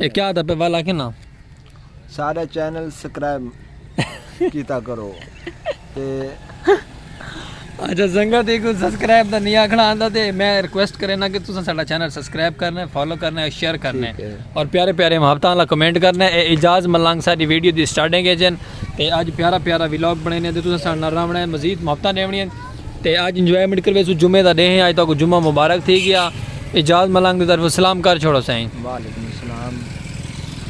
اے کیا دا پے ول آکھے نا۔ سارے چینل سکرائب کیتا کرو تے اچھا سنگت ایک سبسکرائب دا نہیں آکھنا آندا تے میں ریکویسٹ کرینا کہ تساں ساڈا چینل سبسکرائب کرنا فالو کرنا شیئر کرنا اور پیارے پیارے محبتاں والا کمنٹ کرنا اے اعجاز ملنگ ساڈی ویڈیو دی سٹارٹنگ اچ ہیں تے اج پیارا پیارا ولاگ بنائینے تے تساں ساڈے نال رہونا ہے مزید محبتاں ڈیونی ہیں تے اج انجوائمنٹ کرویسوں جمعے دا ڈینہہ ہے اج تہاکوں جمعہ مبارک تھی گیا اعجاز ملنگ دی طرفوں سلام کر چھوڑو سائیں وعلیکم السلام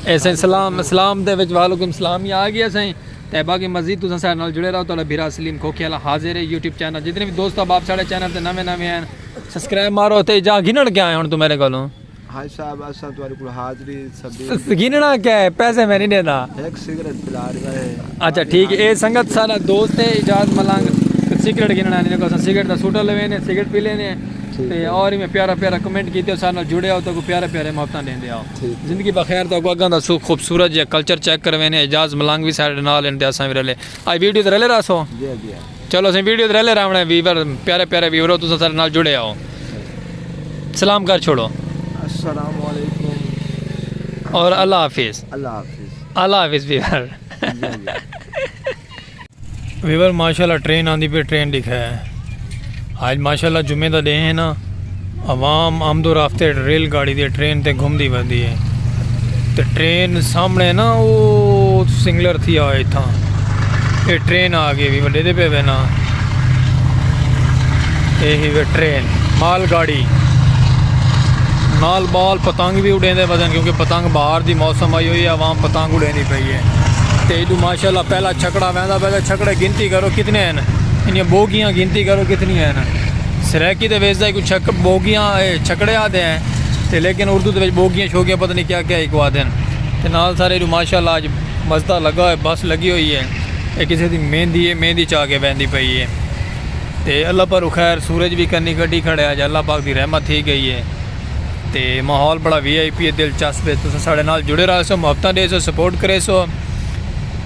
اے سائیں سلام اسلام دے وچ وعلیکم السلام ہی آگیا سائیں تے باقی مزید تساں ساڈے نال جڑے رہو تہاڈا بھرا سلیم کھوکھے والا حاضر ہے یوٹیوب چینل جتنے بھی دوست احباب ساڈے چینل تے نویں نویں ہیں سبسکرائب مارو تے اجاں گھنن کیا ہے ہن تو میرے کولوں حاج صاحب اساں تہاڈے کول حاضری سبیل گننا کیا ہے پیسے میں نہیں دیندا ایک سگریٹ پلا رہا ہے اچھا ٹھیک ہے اے سنگت سارا دوست ہے اجاز ملنگ سگریٹ گننا نہیں کو اساں سگریٹ دا سوٹا لوے نے سگریٹ پی لینے تے اور میں پیارا پیارا کمنٹ کیتے ہو سارے جڑے ہو تو کو پیارے پیارے محبتاں دیندے ہو زندگی بخیر تو کو اگاں دا سو خوبصورت جے کلچر چیک کروینے اجاز ملنگ بھی سارے نال ہیں تے اساں بھی رلے اے ویڈیو تے رلے راسو جی جی چلو اسیں ویڈیو تے رلے راونڑے ویور پیارے پیارے ویورو تساں سارے نال جڑے آؤ سلام کر چھوڑو السلام علیکم اور اللہ حافظ اللہ حافظ اللہ حافظ ویور ویور ماشاءاللہ ٹرین آندی پہ ٹرین دکھا ہے اج ماشاءاللہ جمعے دا ڈینھ ہے نا عوام آمد و رفت ہیٹھ ریل گاڑی تے ٹرین تے گھمدی ویندی ہے تے ٹرین سامنے ہے نا او سنگلر تھی آئے تھا اے ٹرین آ گئی وڈے دے پہ وینا اے ہی وے ٹرین مال گاڑی نال بال پتنگ بھی اڑیں دے بدن کیونکہ پتنگ باہر دی موسم آئی ہوئی ہے عوام پتنگ اڑیں دی پئی ہے تے ایڈو ماشاءاللہ پہلا چھکڑا ویندا پہلا چھکڑے گنتی کرو کتنے ہیں انہیاں ٻوگیاں گنتی کرو کتنیاں ہن۔ سرائیکی تے ویسے کوئی چھک ٻوگیاں اے چھکڑے آدھے ہیں تے لیکن اردو دے وچ ٻوگیاں شوگیاں پتہ نہیں کیا کیا ہی کو آدھے ہیں تے نال سارے ایڈو ماشاءاللہ آج مزدہ لگا ہوئے بس لگی ہوئی ہے اے کسے دی مہندی ہے مہندی چاہ کے بہندی پئی ہے تے اللہ پر او خیر سورج بھی کنی کٹی کھڑے آج اللہ پاک دی رحمت تھی گئی ہے تے ماحول بڑا وی آئی پی ہے دلچسپ ہے تساں سارے نال جڑے رہے سو محبتاں دے سو سپورٹ کرے سو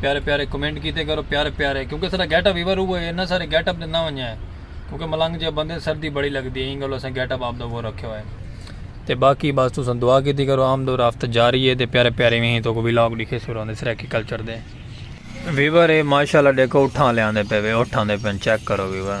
پیارے پیارے کمنٹ کیتے کرو پیارے پیارے کیونکہ سارا گیٹ اپ ویور ہوئے انہاں سارے گیٹ اپ نہ ونجا ہے کیونکہ ملنگ جے بندے سردی بڑی لگدی ہے انگل اساں گیٹ اپ اپ دا وہ رکھے ہوئے تے باقی بس تساں دعا کیتی کرو عام دو رافت جاری ہے تے پیارے پیارے وہیں تو کو ویلاگ دکھے سوروں دے سرائیکی کلچر دے ویور ہے ماشاءاللہ دیکھو اٹھاں لے آندے پے وے اٹھاں دے پن چیک کرو ویور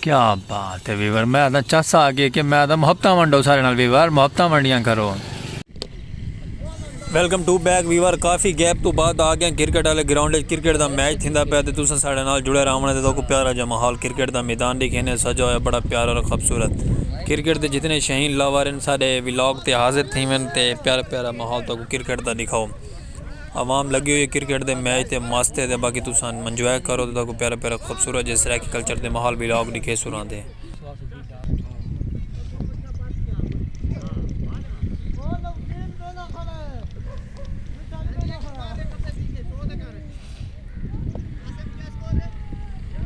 کیا بات ہے ویور میں آدھا چس آ گئے کہ میں آدھا محبتاں ونڈو سارے نال ویور محبتاں ونڈیاں کرو۔ ویلکم ٹو بیک ویور کافی گیپ توں بعد آ گیاں کرکٹ والے گراؤنڈ اچ کرکٹ دا میچ تھیندا پیا تے تساں ساڈے نال جڑے راونڑ تے تہاکوں پیارا جا ماحول کرکٹ دا میدان ڈکھینے سجا ہویا بڑا پیارا اور خبصورت کرکٹ دے جتنے شہین لور ہن ساڈے ولاگ تے حاضر تھیون تے پیارا پیارا ماحول تہاکوں کرکٹ دا ڈکھاؤ۔ عوام لگی ہوئی ہے کرکٹ دے میچ تے مست ہے تے باقی تساں منجوائے کرو تساں کو پیارا پیارا خوبصورت جے سرائیکی کلچر دے ماحول ولاگ ڈکھے سو راں دے۔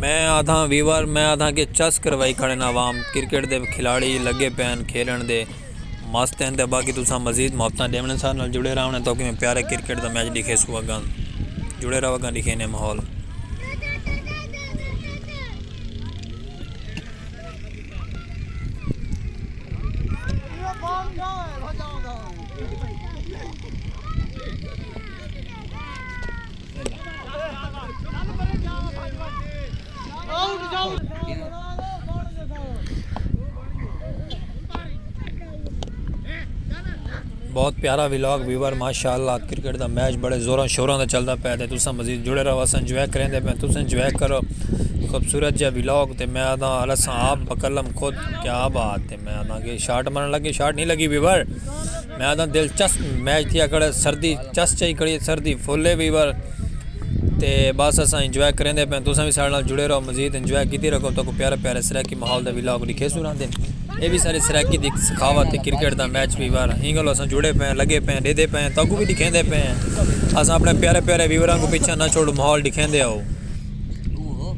میں آدھاں ویور میں آدھاں کہ چس کروائی کھڑے نا عوام کرکٹ دے کھلاڑی لگے پین کھیلن دے۔ مست ہن تے باقی تساں مزید محبتاں ڈیونڑ ساڈے نال جڑے راونڑ تاکہ میں پیارے کرکٹ دا میچ ڈکھے سو اگاں جڑے راو اگاں ڈکھے نے ماحول بہت پیارا ویلاگ ویور ماشاءاللہ کرکٹ دا میچ بڑے زوراں شوراں دا چلدا پیا تے تساں مزید جڑے رہو اساں انجوائے کریندے پے تساں انجوائے کرو خوبصورت جا ویلاگ تے میں آدھا الس آپ بکلم خود کیا بات ہے میں آدھاں کہ شاٹ مارن لگے شاٹ نہیں لگی ویور میں آدھاں دلچسپ میچ تھیا کڑے سردی چس چاہی کڑی سردی فلے ویور تے بس اساں انجوائے کریں دے پہ تساں بھی سارے نال جڑے رہو مزید انجوائے کیتی رکھو تو کو پیارے پیارے سرائیکی ماحول دا ویلاگ لکھے سوراں دے اے بھی سارے سرائیکی دی سخاوت تے کرکٹ دا میچ ویور ہیں گلو اساں جڑے پہ لگے پہ دے دے پہ تاکو بھی دکھیں دے پہ اساں اپنے پیارے پیارے ویوراں کو پچھا نہ چھوڑو ماحول دکھیں دے ہو